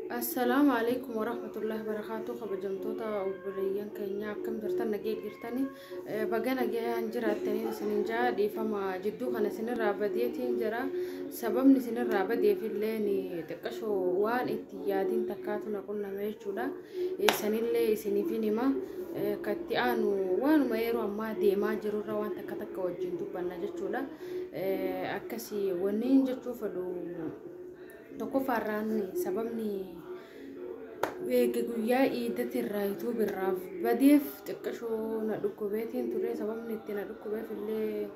Assalaamu alaikum warahmatullahi wabarakatuh kabajamtoota obboleeyyan keenya akkam jirtan nagee jirtani baga nagayaan jiraattanii isinin jaa dhiifama jidduu kana isinirraa badeetiin jira sababni isinirraa badeefillee ni xiqqashoo waan itti yaadiin takkaatu na qunname jechuudha sanillee isiniifin hima katti aanu waanuma yeroo ammaa deemaa jirurra waan takka takka wajjin dubbanna jechuudha akkasii wanniin jechuu fedhu Tokkoffaa irraan sababni eega guyyaa iidati irraa yuutuubi irraa badeef xiqqashoo na dhukkubeetiin ture sababni itti na dhukkubeef illee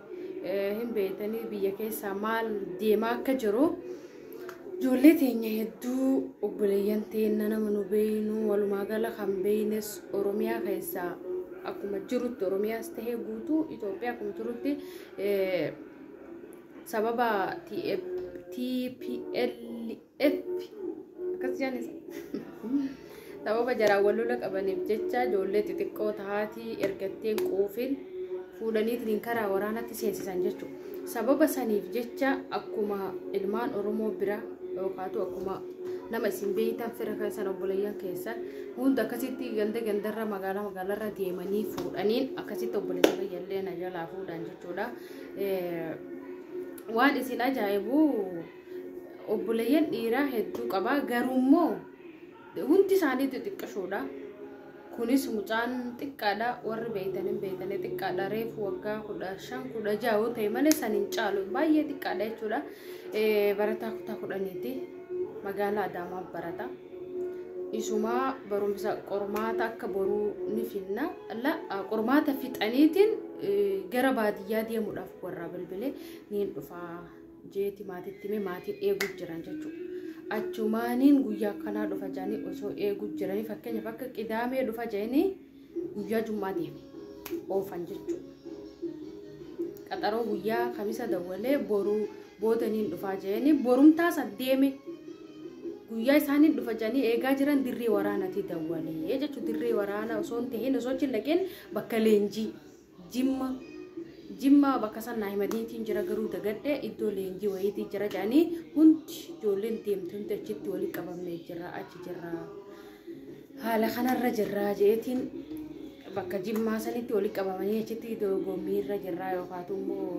hin beektanii biyya keessaa maal deemaa akka jiru ijoollee teenya hedduu obboleeyyan teenna nama nu beeynu walumaa gala kan beeynes oromiyaa keessaa akkuma jirutti oromiyaas tahee guutuu Itoophiyaa akkuma jirutti sababa TPLF akkas jaanis sababa jaraan wal lola qabaniif jecha ijoollee xixiqqoo tahaatii ergatteen quufiin fuudhaniitiin karaa waraanatti seensisan jechuudha. Sababa saniif jecha akkuma ilmaan Oromoo bira yookaatu akkuma nama isin beeytan fira keessan obboleeyyan keessan hunda akkasitti ganda gandarra magaalaa magaalarra deemanii fuudhaniin akkasitti obboleessa fayyallee na jalaa fuudhan jechuudha. waan isin ajaa'ibu obboleeyyan dhiiraa hedduu qaba garuu immoo hundi isaanii xixiqqashoodha kunis mucaan xiqqaadha warri beeytan hin beeytanii xiqqaadha reefu waggaa kudha shan kudha ja'a yoo ta'e malee san hin caalu baay'ee xiqqaadha jechuudha Eh, barataa kutaa kudhaniiti magaalaa Adaamaa barata. Isuma barumsa qormaata akka boruu ni finna. La, ah, qormaata fixaniitiin eh, gara baadiyyaa deemuudhaaf warraa bilbilee niin dhufaa jeeti maatitti mee maatiin eeguu jiran jechuudha. Achumaaniin guyyaa akkanaa dhufa jedhanii osoo eeguu jiranii fakkeenyaaf akka qidaamee dhufa jedhanii guyyaa jummaa deeme oofan jechuu qaxaroo guyyaa kamisa dawwalee boruu booda niin dhufaa jeeni borumtaa san deeme guyyaa isaaniin dhufa jedhanii eegaa jiran dirree waraanatii dawwalee jechuu dirree waraana osoo hin tahin osoo hin dhaqin bakka leenjii Jimma Jimma bakka san naa himaniitiin jira garuu dagadhe iddoo leenjii wayiitii jira jedhanii hundi ijoolleen deemte hundi achitti walitti qabamnee jira achi jirra haala kanarra jirra jeetiin bakka jimmaa sanitti walitti qabamanii achitti dorgommii irra jirra yookaatu immoo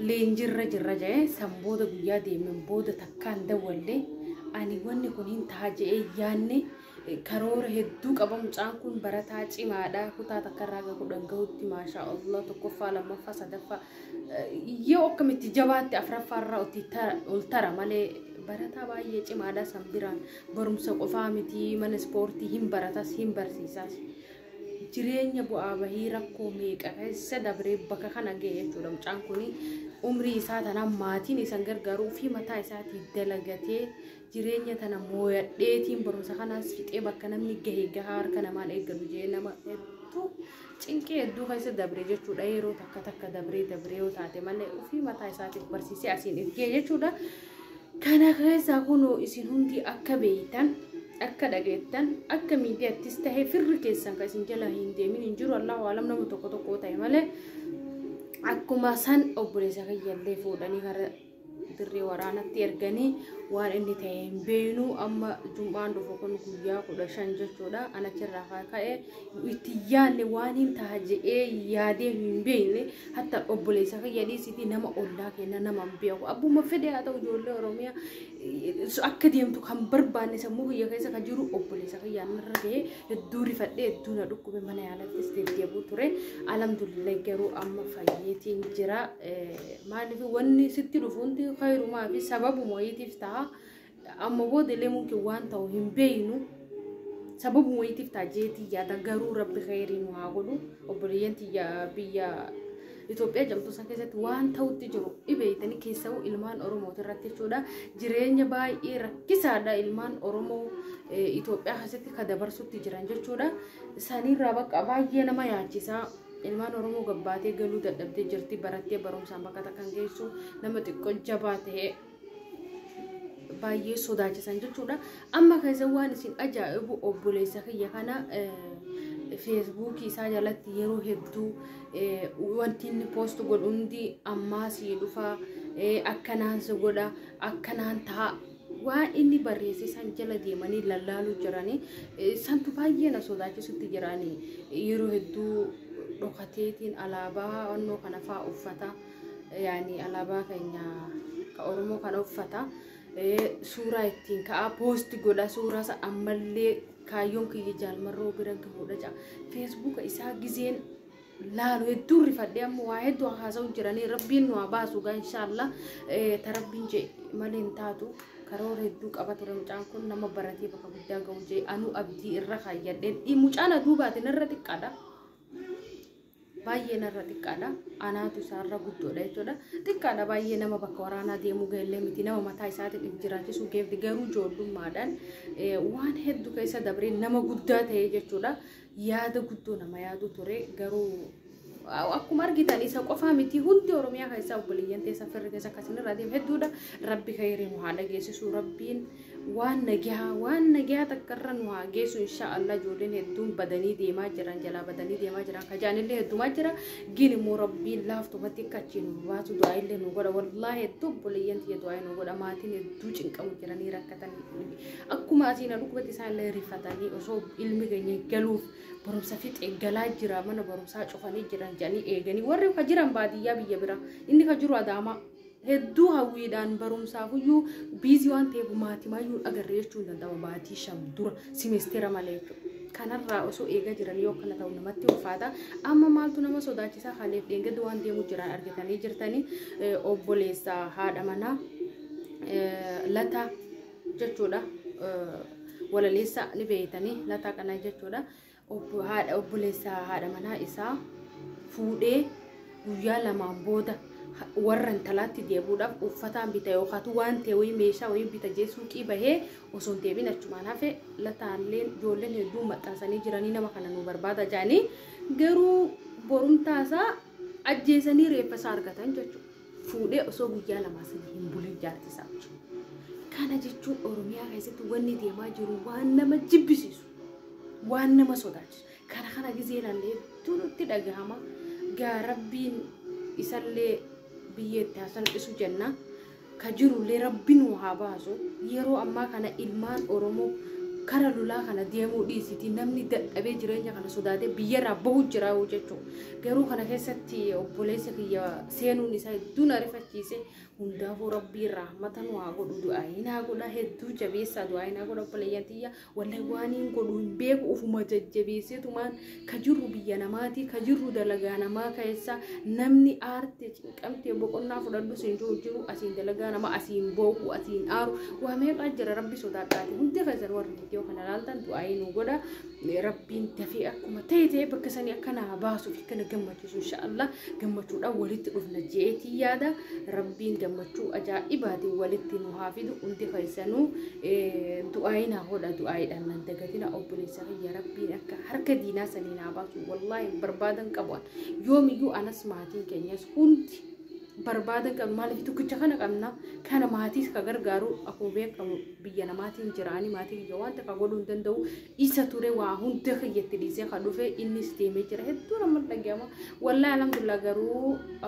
leenjirra jirra jedhee san booda guyyaa deemen booda takkaan dawwallee ani wanni kun hin ta'a jedhee yaanne Karoora hedduu qaba mucaan kun barataa cimaadha kutaa takka irraa ga kudhan gahutti maashaa Allah tokkoffaa lammaffaa sadaffaa yoo akkamitti jabaatti afraffaa irraa utti ol tara malee barataa baay'ee cimaadha san biraan barumsa qofaa miti mana ispoortii hin baratas hin barsiisas jireenya bu'aa bahii rakkoo meeqa keessa dabree bakka kana ga'e jechuudha mucaan kun umrii isaa tanaan maatiin isan gargaaru ofii mataa isaatii dalagatee jireenya tana mooyadheetiin barumsa kanaas fixee bakka namni gahe gahaa harka namaan eeggatu jee nama hedduu cinqii hedduu keessa dabre jechuudha yeroo takka takka dabree dabree yoo taate malee ofii mataa isaatiif barsiisee asiin ergee jechuudha kana keessaa kunoo isin hundi akka beeytan akka dhageettan akka miidiyaattis tahee firri keessan kan isin jala hin deemin hin jiru allahu alam nama tokko tokko ta'e malee akkuma san obboleessa kiyyallee fuudhanii gara dirree waraanatti erganii waan inni ta'e hin beeknu amma jum'aan dhufu kun guyyaa kudha shan jechuudha an achirraa haa ka'e itti yaadne waan hin ta'a jedhee yaadee hin beekne hatta obboleessa kiyya dhiisiti nama ollaa kenna nama hin beeku abbuma fedhe haa ta'u ijoollee oromiyaa eh, akka deemtu kan barbaanne sammuu kiyya keessa kan jiru obboleessa kiyyaa narra ga'ee hedduu rifadhee hedduu na dhukkube mana yaalattis deddeebuu ture alamdulillah garuu amma fayyeetiin jira maaliif wanni sitti dhufuunti kayrumaa fi sababu wayiitiif ta'a amma booda illee mumkin waan ta'u hin beeynu sababu wayiitiif ta'a jeetii yaada garuu rabbi kayrii nu haa godhu obboleeyyan tiyya biyya Itoophiyaa jedhamtu san keessatti waan ta'utti jiru dhibeeytanii keessa'uu ilmaan Oromooti irratti jechuudha. Jireenya baay'ee rakkisaadha ilmaan Oromoo Itoophiyaa keessatti ka dabarsutti jiran jechuudha. Saniirraa bakka baay'ee nama yaachisa. Ilmaan Oromoo gabbaatee galuu dadhabdee jirti. Barattee barumsaan bakka takka kan geessu nama xiqqoo jabaa ta'e. baay'ee sodaachisan jechuudha. Amma keessa waan isin ajaa'ibu obboleessa kiyya kana feesbuukii isaa jalatti yeroo hedduu wanti inni poost godhu hundi ammaa sii dhufa akkanaan si godha akkanaan ta'a waan inni barreesse san jala deemanii lallaaluu jiranii santu baay'ee na sodaachisutti jiranii yeroo hedduu dhokateetiin alaabaa onnoo kana fa'aa uffata. yaani alaabaa keenya ka Oromoo kana uffata suuraa ittiin ka'aa poosti godha suuraa isa ammallee kaayyoon kiyya jaalmarroo biran gahuudha ja'a feesbuuka isaa gizeen laalu hedduu rifadhee amma waa hedduu haasa'u jiranii rabbiin nu haa baasu gaa inshaallah ta rabbiin jee malee hin taatu karoora hedduu qaba ture mucaan kun nama baratee bakka guddaa ga'u jee anuu abdii irra kaayyadheen mucaan aduu baatin irra xiqqaadha baay'ee narra xiqqaadha. Anaatu isaarra guddoodha jechuudha. Xiqqaadha baay'ee nama bakka waraanaa deemuu ga'ellee miti nama mataa isaatiin if jiraachisuu geefti garuu ijoollummaadhaan waan hedduu keessa dabree nama guddaa ta'ee jechuudha. Yaada guddoo nama yaadu ture garuu akkuma argitan isa qofaa miti hundi Oromiyaa keessaa obboleeyyan teessa firri keessa akkasirra deemu hedduudha. Rabbi kayrii nu haa dhageessisu rabbiin. Waan nagyahaa waan nagyahaa takka irra nu haa geessu inshaa Allah ijoolleen hedduun badanii deemaa jiran jalaa badanii deemaa jiran kajaanillee heddumaa jira gin immoo rabbiin laaftumatti akka achii nu baatu du'aa illee nu godha wallaahi hedduu obboleeyyan tiyya du'aa nu godha maatiin hedduu cinqamu jiranii rakkatan akkuma asiin alukkubatti isaan illee rifatanii osoo ilmi keenya galuuf barumsa fixee galaa jira mana barumsaa cufanii jiran jedhanii eeganii warri ka jiran baadiyyaa biyya biraa inni ka jiru adaamaa Hedduu hawwiidhaan barumsaafuyyuu biizii waan ta'eef maatimayyuu hin agarre jechuun hin danda'ama baatii shan dura simesteera malee jechuudha. Kanarraa osoo eegaa jiran yoo akkana ta'u namatti ulfaata. Amma maaltu nama sodaachisaa haleef dheengadda waan deemu jiran argitanii jirtanii eh, obboleessa haadha manaa eh, lataa jechuudha. Eh, Walaleessa ni beeytanii lataa kana jechuudha. Obbo haadha obboleessa haadha manaa isaa fuudhee guyyaa lamaan booda warra intalaatti deebuudhaaf uffataan bita yookaatu waan ta'e wayii meeshaa wayii bita jee suuqii bahee osoo hin deebiin achumaan hafe lataalleen ijoolleen hedduun maxxansanii jiranii nama kana nu barbaada jaanii garuu borumtaa isaa ajjeesanii reeffa isaa argatan jechuudha. Fuudhee osoo guyyaa lamaa sana hin bulin jaartii isaa jechuudha. Kana jechuun Oromiyaa keessatti wanni deemaa jiru waan nama jibbisiisu. waan nama sodaachisu kana kana gizee ilaallee hedduu nutti dhagahama gaa rabbiin isallee biyyeetti haa salphisu jenna ka jirullee rabbi nu haa baasu yeroo ammaa kana ilmaan oromoo kara lolaa kana deemuu dhiisiti namni dadhabee jireenya kana sodaatee biyyarraa bahu jira jechuudha garuu kana keessatti obboleessa kiyya seenuun isaa hedduu na rifachiise hundaafuu rabbii rahmata nu haa godhu du'aa hin haa godha hedduu jabeessaa du'aa hin haa godha obboleeyyan tiyya Wallahi waaniin godhu hin beeku ufuma jajjabeesseetumaan ka jirru biyya namaatii ka jirru dalagaa namaa keessa namni aarte cinqamtee boqonnaa fudhadhu siin jiru jiru asiin dalagaa nama asiin booku asiin aaru waa meeqaa jira rabbi sodaadhaati hundi keessan warri viidiyoo kana laaltan du'aayii nu godha rabbiin dafee akkuma ta'e ta'e bakka sanii akka naa baasuuf akka na gammachiisu barsiisu inshaallah gammachuudhaan walitti dhufna jeetii yaada rabbiin gammachuu ajaa'ibaatiin walitti nu haa fidu hundi keessanuu du'aayi naa hodha du'aayiidhaan nan dagatina obboleessa kiyya rabbiin akka harka diinaa sanii naa baasu wallaahi barbaadan qabu yoomiyyuu anas maatiin keenyas hundi barbaadan qabu maaliif tokkicha kana qabna kana maatiis ka gargaaru akkuma beekamu biyya namaatiin jiraanii maatii kiyya wanta ka godhuu hin danda'u isa ture waa hunda kiyyatti dhiisee ka dhufe innis deemee jira hedduu nama dhaga'ama wallaahi alhamdulillah garuu